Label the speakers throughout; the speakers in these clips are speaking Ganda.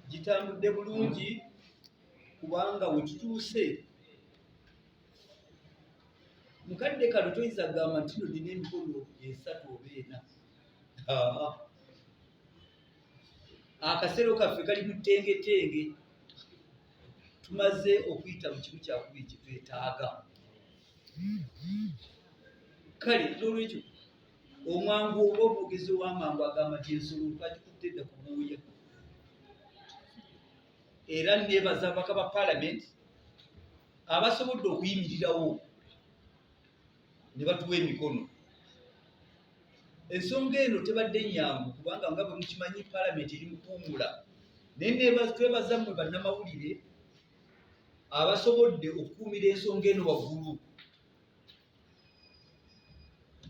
Speaker 1: gitambudde bulungi kubanga wetutuuse mukadde kano toyinza kugamba nti no nina emikolo esatu oba ena akasero kaffe kali mutengetenge tumaze okuyita mu kimu kyakubiri kyetwetaaga kale nolwekyo omwangu oba omwogezi ow'amangu agamba nti ensolo twagikutte dda ku buuya era nebaza ababaka ba palamenti abasobodde okuyimirirawo ne batuwa emikono ensonga eno tebadde nyangu kubanga nga bwemukimanyi palamenti eri mukuwumula naye netwebaza mmwe bannamawulire abasobodde okukuumira ensonga eno waggulu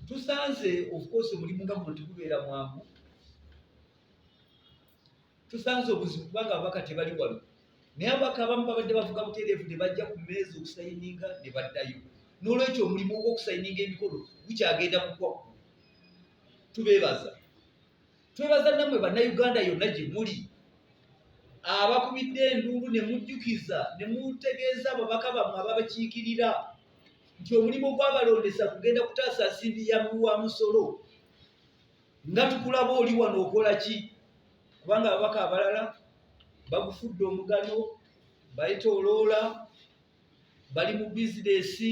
Speaker 1: tusanze of course omulimu nga guno tegubeera mwangu tusanze obuzibu kubanga ababaka tebali wano naye ababaka abamu babadde bavuga butereevu ne bajja ku meezi okusayininga ne baddayo n'olwekyo omulimu ogw'okusayininga emikolo gukyagenda kukwakku tubeebaza twebaza namwe bannayuganda yonna gye muli abakubidde enduulu ne mujjukiza ne mutegeeza ababaka bammwe ababakiikirira nti omulimu gwabalondesa kugenda kutaasa nsimbi ya mulu wa musolo nga tukulaba oli wano okola ki kubanga ababaka abalala bagufudde omugano bayita oloola bali mu bizinesi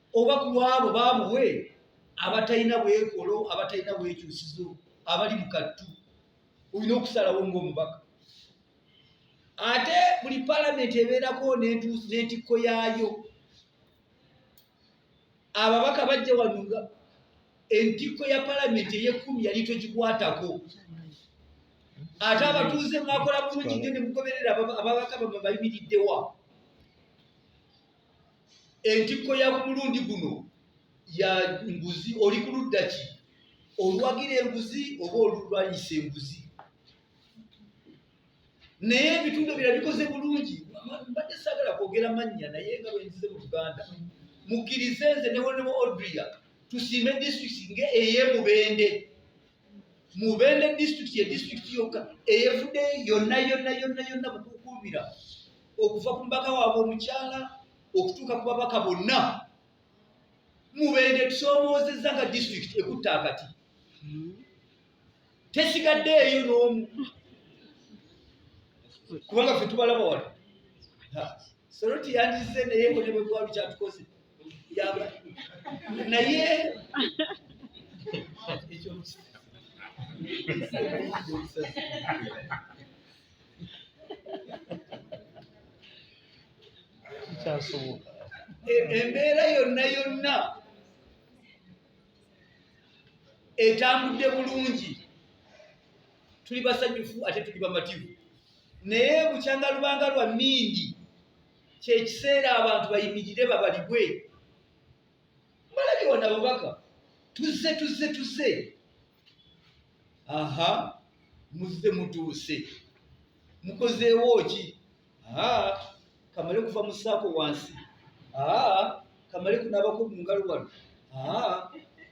Speaker 1: oba ku lwabo baabuwe abatalina bwekolo abatalina bwekyusizo abali mu kattu olina okusalawo ngaomubaka ate buli palamenti ebeerako n'entikko yaayo ababaka bajja wanuga entikko ya palamenti eyekumi yali togikwatako ate abatuuze mwakola bulungi nyo nemugoberera ababaka bamwe bayimiriddewa entikko ya ku mulundi guno ya nguzi oli ku ludda ki oluwagira enguzi oba olulwanyisa enguzi naye ebitundu bira bikoze bulungi mbadde sagala kwogera mannya naye nga bwenzize mu luganda mukkirize nze newonemu odria tusiime disitulikiti nga eyemubende mubende disitulikiti ye disitulikiti yokka eyefudde yonna yonna yonna yonna kukuumira okuva ku mubaka waabwe omukyala okutuuka ku babaka bonna mubeede tusoomoozezza nga disitulikiti ekutta akati tesigadde eyo n'omu kubanga fe tubalaba wano soroti yandizze naye konebwegwalu kyatukoze yaba naye kikyasoboka e, embeera yonna yonna etambudde bulungi tuli basanyufu ate tuli bamativu naye bukyanga lubanga lwa mingi kyekiseera abantu bayimirire babalibwe mbalabiwa nabubaka tuzze tuzze tuzze aha muzze mutuuse mukozeewo ki kamale kuva mu saako wansi kamale kunabako mu ngalo wano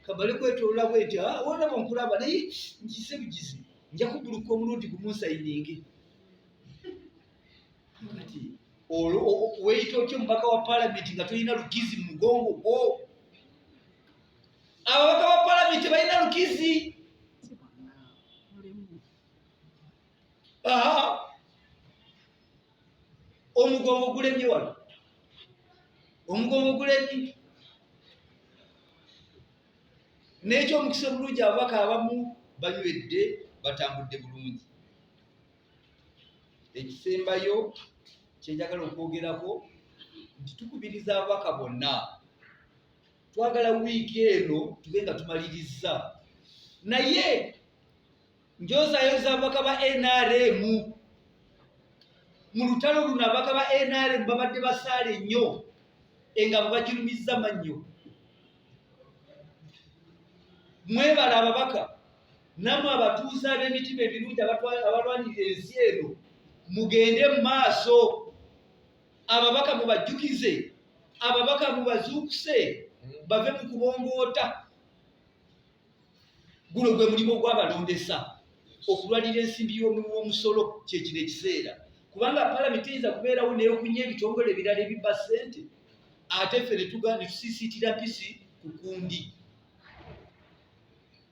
Speaker 1: kamale kwetolola bweti wona bonkulaba naye nkise bigizi nja kuguluka omulundi gumunsayiningi kati olwo weyita otya omubaka wa palamenti nga tolina lugizi mu mugongo gwo ababaka ba palamenti balina lukizi omugongo gulemye wano omugongo gulemye n'ekyo omukisa omulungi ababaka abamu banywedde batambudde bulungi ekisembayo kyenjagala okwogerako nti tukubiriza ababaka bonna twagala wiiki eno tube nga tumalirizza naye njozayo zabaka ba nrm mu lutalo luno abaka ba nrm babadde basaala ennyo enga bwebagirumizza mannyo mwebala ababaka namwe abatuuze ab'emitima ebirungi abalwanirira ensi eno mugende mu maaso ababaka mubajjukize ababaka mubazuukuse bave mu kubongoota guno gwe mulimu ogwabalondesa okulwanira ensimbi y'omuwomusolo kyekino ekiseera kubanga palamenti eyinza kubeerawo neyokunya ebitongole ebirala ebibba ssente ate ffe netuga netusiisiitira mpisi ku kundi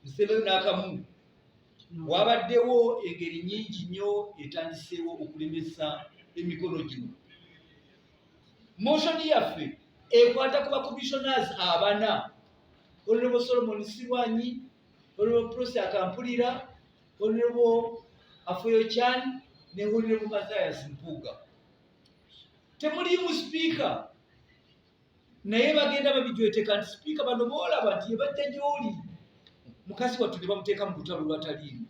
Speaker 1: nsebeyo n'akamu Wabaddewo engeri nyingi nnyo etandiseewo okulemesa emikolo gino. Moshoni yaffe ekwata ku bakomishonas abana olulebo Solomon Sirwanyi, olulebo Prosi Akampulira, olulebo Afoyo Chan ne olulebo Mathias Mpuuga. Temuliimu sipiika. naye bagenda babijweteka nti sipiika bano boolaba nti yebajja gyoli mukazi wattu ne bamuteeka mu lutalo lwataliimu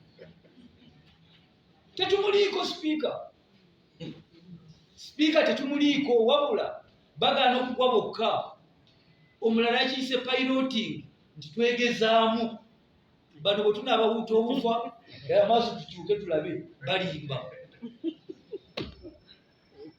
Speaker 1: tetumuliiko sipiika sipiika tetumuliiko wabula bagaana okugwa bokka omulala yakiyise piloting nti twegezaamu bano bwe tunaabawuuta obufa amaaso tukyuke tulabe balimba